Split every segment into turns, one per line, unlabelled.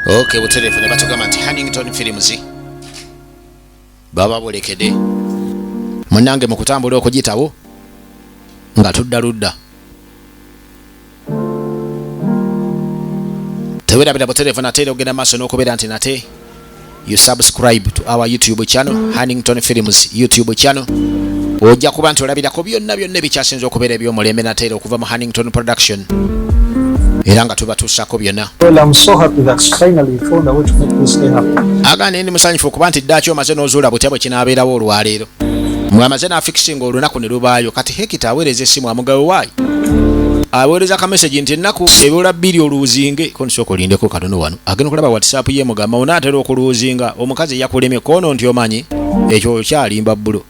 ok butereevu ne batugamba nti hannington films baba bolekede munange mu kutambula okugitawo nga tudda ludda tewerabira butereevu nate era ogenda maaso n'okubeera nti nate you subscribe to our youtube channel hannington films youtube channel ojja kuba nti olabirako byonna byonna ebikyasinza okubeera ebyomulembe nateera okuva mu hannington production era nga tubatuusako byonna
agane ndi musanyufu okuba
nti ddaaki omaze n'ozuula butya bwe kinaabeerawo olwaleero mwamaze n'afikisinga olunaku ne lubaayo kati hekita aweereza essimu amugawe waayo aweereza kamesegi nti ennaku ebula bbiri oluuzinge ko nisooka olindeko katono wano agenda okulaba whatsapp ye mugamba onaatera okuluuzinga omukazi yakulemye koono nti omanyi ekyo okyalimba bbulo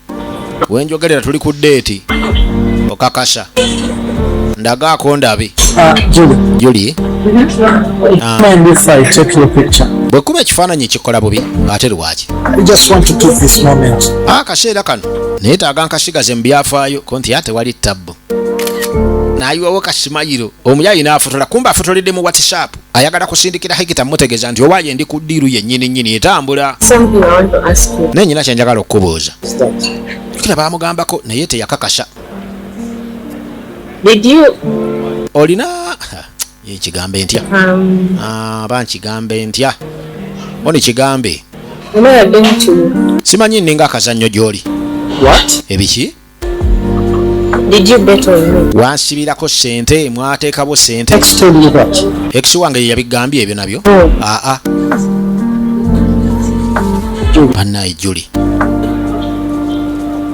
wenjogerera tuli ku deeti okakasa ndagaako ndabe ah, juli
ah. bwe kuba ekifaananyi
kikola bubi ate lwaki
akaseera ah, kano
naye taaga nkasigaze mu byafaayo ko nti ate wali tabbu nayiwawo kasimayiro omuyaayi n'afotola kumba afotoledde mu whatsapp ayagala kusindikira hegita mutegeeza nti oba yendi ku ddiiru yennyini nnyini etambula naye nyina kyenjagala okukubuuza kira baamugambako naye teyakakasa olina ekigambo entya um, ah, ba nkigambo entya oni kigambe simanyi nninga akazannyo gy'oli ebiki Did you bet on me? Wansibirako sente mwateekabo sente. Ex told you that. Ex wange ye yabigambye ebyo nabyo. Oh. Ah ah. Banaye Julie.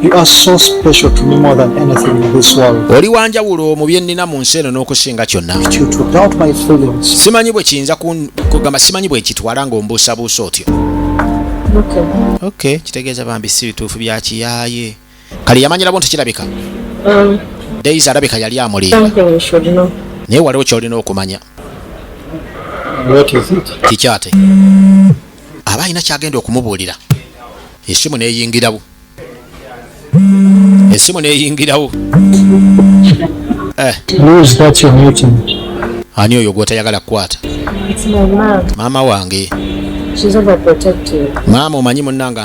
You are so special to me more than anything in this world. Oli wanjawulo mu bye
nnina mu nsi eno n'okusinga kyonna.
Simanyi bwe kiyinza
kugamba simanyi bwe kitwala ng'ombuusabuusa otyo. Okay. Okay, kitegeeza bambi si bituufu bya kiyaaye. kale yamanyira bo nti kirabika um, daisy alabika yali amulimba naye waliwo kyolina okumanya kikyate aba alina kyagenda okumubuulira esimu neyingirawo esimu neyingirawo
eh. ani oyo
gwotayagala kukwata maama wange maama omanyi munanga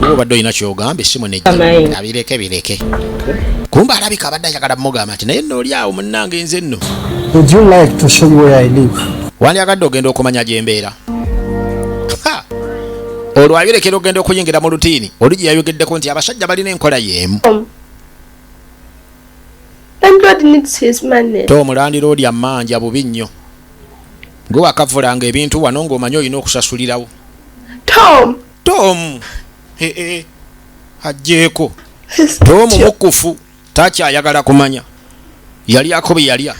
Wowe obadde olina ky'ogamba essimu ne abireke bireke. Kumba alabika abadde ayagala mugamba nti naye nno oli awo munnange nze nno. Would you like to show me where I live? Wandyagadde ogenda okumanya gye mbeera. Olwo abirekera ogenda okuyingira mu lutiini oli gye yayogeddeko nti abasajja balina enkola y'emu. Um. tomulandira olya manja bubi nnyo gwe wakavulanga ebintu wano ng'omanyi olina okusasulirawo Tom eh, eh, ajjeeko Tom mukufu takyayagala kumanya yalyako bye yalya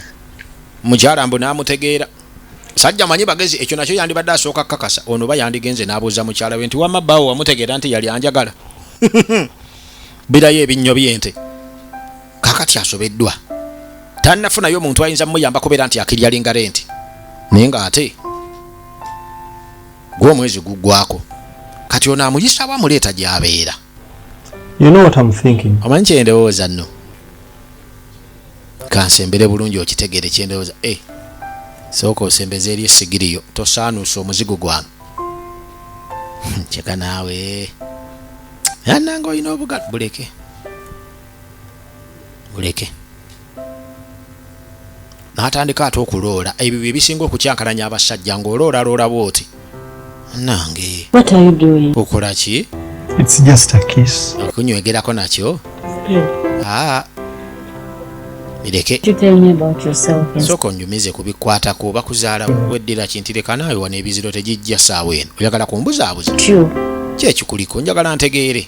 mukyala mbu n'amutegeera sajja manyi bagezi ekyo nakyo yandibadde asooka kakasa ono ba yandigenze n'abuuza mukyala we nti wama bawo wamutegeera nti yali anjagala birayo ebinnyo byente kakati asobeddwa tannafunayo omuntu ayinza mumuyamba kubeera nti akiryalinga renti naye ng'ate gwe omwezi guggwako kati ono amuyisa wa muleeta gyabeera you know what I'm thinking omanyi kyendowooza nno kansembere bulungi okitegere kyendowooza e eh, sooka osembeza eri esigiriyo tosaanuusa omuzigo gwange hmm, kyeka naawe ananga olina obuga buleke buleke n'atandika ate okuloola ebyo bye bisinga okukyankalanya abasajja ng'olooraloola bw'oti nange okola ki okunywegerako nakyo aa bireke sooka onjumize ku bikwatako bakuzaala weddira kintireka naawe wano ebiziro tegijja saawa eno oyagala kumbuzaabuza kyekikuliko njagala ntegeere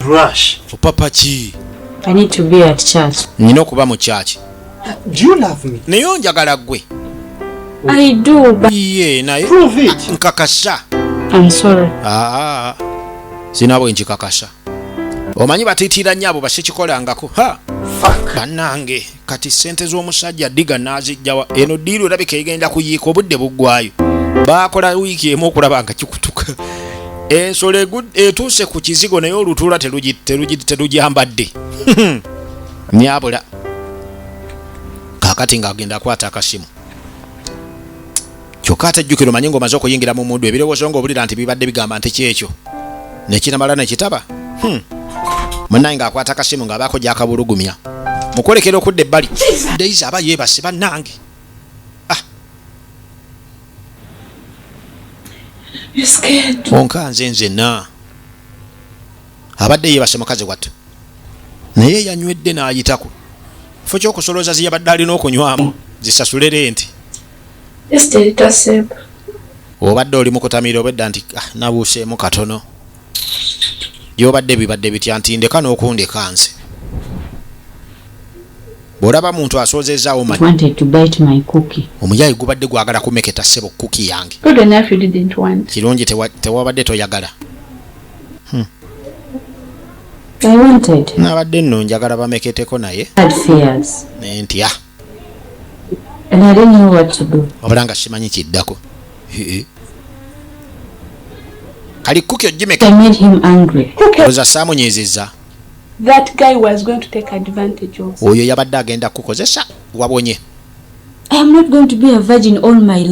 brush
opapa ki i
need to be
at church nina okuba mu church
do you love
me naye onjagala gwe
i
do but ye naye prove
it nkakasa i'm sorry
ah
sina bwe nkikakasa omanyi batitira nyabo basikikolangako ha banange kati sente z'omusajja diga nazijjawa eno diiru erabika egenda kuyiika obudde buggwayo baakola wiiki emu okulaba nga kikutuka ensolo etuuse ku kizigo naye olutuula terugyambadde nyabula kakati ng'agenda akwata akasimu kyokka ate jjukira omanye ng'omaze okuyingira mu mundu ebirowoozo ng'obulira nti bibadde bigamba nti kyekyo nekinamala nekitaba hmm. munaye ng'akwata akasimu ng'abaako gyakabulugumya mukwolekera okudda ebbali days aba yeebase bannange ah. onka nze nzenna abadde yeebase mukazi wattu naye yanywedde n'ayitako fo kyokusolooza ziyabadde alina okunywamu zisasulere nti obadde oli mukutamira obedda nti ah, nabuuseemu katono gyobadde bibadde bitya nti ndeka n'okundeka nze bw'olaba muntu asoozeezaawo
omuyayi gubadde gwagala
kumeketa ssebo kuki yange
kirungi tewabadde
toyagala
hmm. nabadde nno njagala
bameketeko naye
nentya wabula nga simanyi kiddako
kali kuki ojimekaoza
saamunyiiziza
oyo yabadde agenda
kukozesa wabonye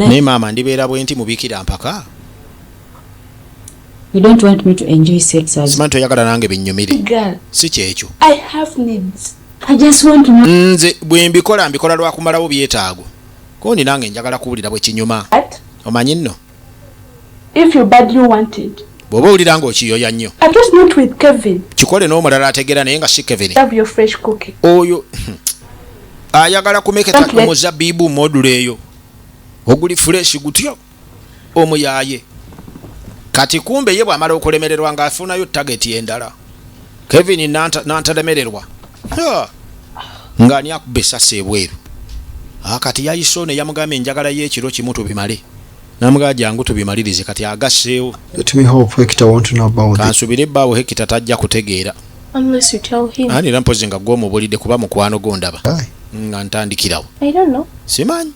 naye maama ndibeera bwenti
mubikira mpaka
You don't want me to enjoy sex as Simanto yagala nange binyumire.
Girl. Si kyekyo.
I
have needs.
I just want to
know. Nze bwe mbikola
mbikola lwa kumalawo byetaago. Ko ni nange njagala kuwulira bwe kinyuma. Omanyi nno. If
you badly want it. Bwoba owulira nga
okiyoya nnyo. I just not with Kevin.
Kikole n'omulala ategeera
naye nga si Kevin. Love your fresh cookie.
Oyo.
Ayagala kumeketa ku muzabbiibu
module
eyo. Oguli fresh gutyo. omuyaaye kati kumbe ye bwamala okulemererwa ng'afunayo tageti endala kevin nantalemererwa ng'ani akuba esasi ebweru ah, kati yayise ono eyamugamba enjagala y'ekiro kimu tubimale namugaa jangu tubimalirize kati agasseewo
kansubire baawo hekita
tajja kutegeera
ani era mpozi nga gwomubulidde
kuba mukwano gondaba nga
ntandikirawo
simanyi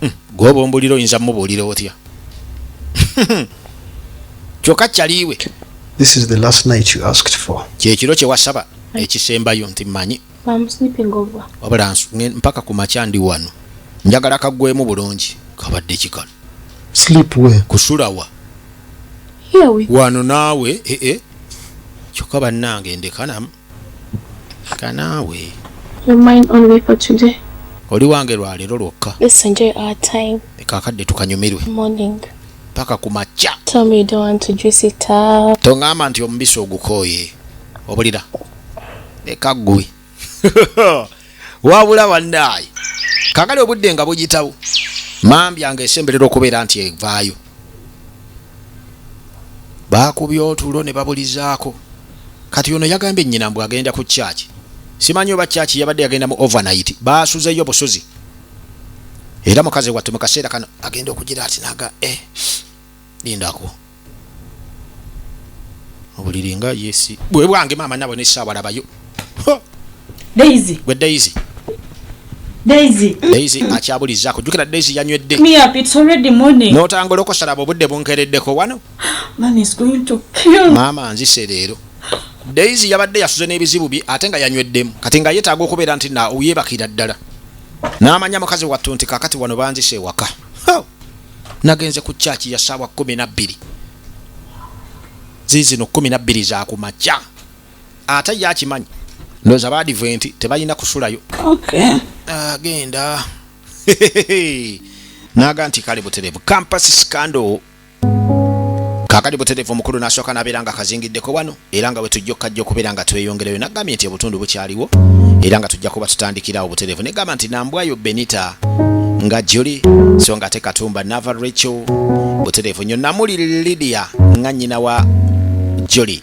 hmm,
gwoba ombulira oyinza mubuulira otya kyoka kyaliiwe
kyekiro kyewasaba
ekisembayo nti manyi
wabula mpaka
ku makya ndi wano njagala kagwemu bulungi kabadde kikano
kusulawa
wano naawe ee
eh, eh. kyokka bannange ndekanamu kanaawe
oli wange
lwaleero lwokka
kakadde tukanyumirwe paka ku
makya
toŋamba nti omubisi
ogukooye obulira leka ggwe wabula bannaayi kakale obudde nga buyitawo mambya nga esemberera okubeera nti evaayo baakubye otulo ne babulizaako kati ono yagambye nnyina mbu agenda ku kyaki simanyi oba kyaki yabadde yagenda mu overnight baasuzeyo busuzi era mukazi wattu mu kaseera kano agenda okugira ati naga e eh, lindako obuliri nga yesi bwe bwange maama nabwe nesaawalabayo
Daisy. Gwe Daisy. Daisy. Daisy
akyabulizaako jukira Daisy yanywedde. Me up it's already
morning. N'otangula okusaraba obudde
bunkereddeko wano. Mama is going
to kill. Mama nzise leero.
Daisy yabadde yasuze n'ebizibu bye ate nga yanyweddemu kati nga yeetaaga okubeera nti na yeebakira ddala. N'amanya mukazi wattu nti kakati wano banzise ewaka. Nagenze ku kyaki ya ssaawa kkumi na bbiri. Ziizino kkumi na bbiri za ku makya. ate ye akimanyi ndoza badiventi tebalina kusulayo
agenda
naga nti kale buterevu campus scandal kakati buterevu omukulu nasooka nabeera nga kazingiddeko wano era nga wetujja okukajja okubeera nga tweyongereyo nagambye nti obutundu bukyaliwo era nga tujja kuba tutandikirawo buterevu negamba nti nambwayo benita nga juli so nga ate katumba nava rachel buterevu nyo namuli lidia nga nyina wa juli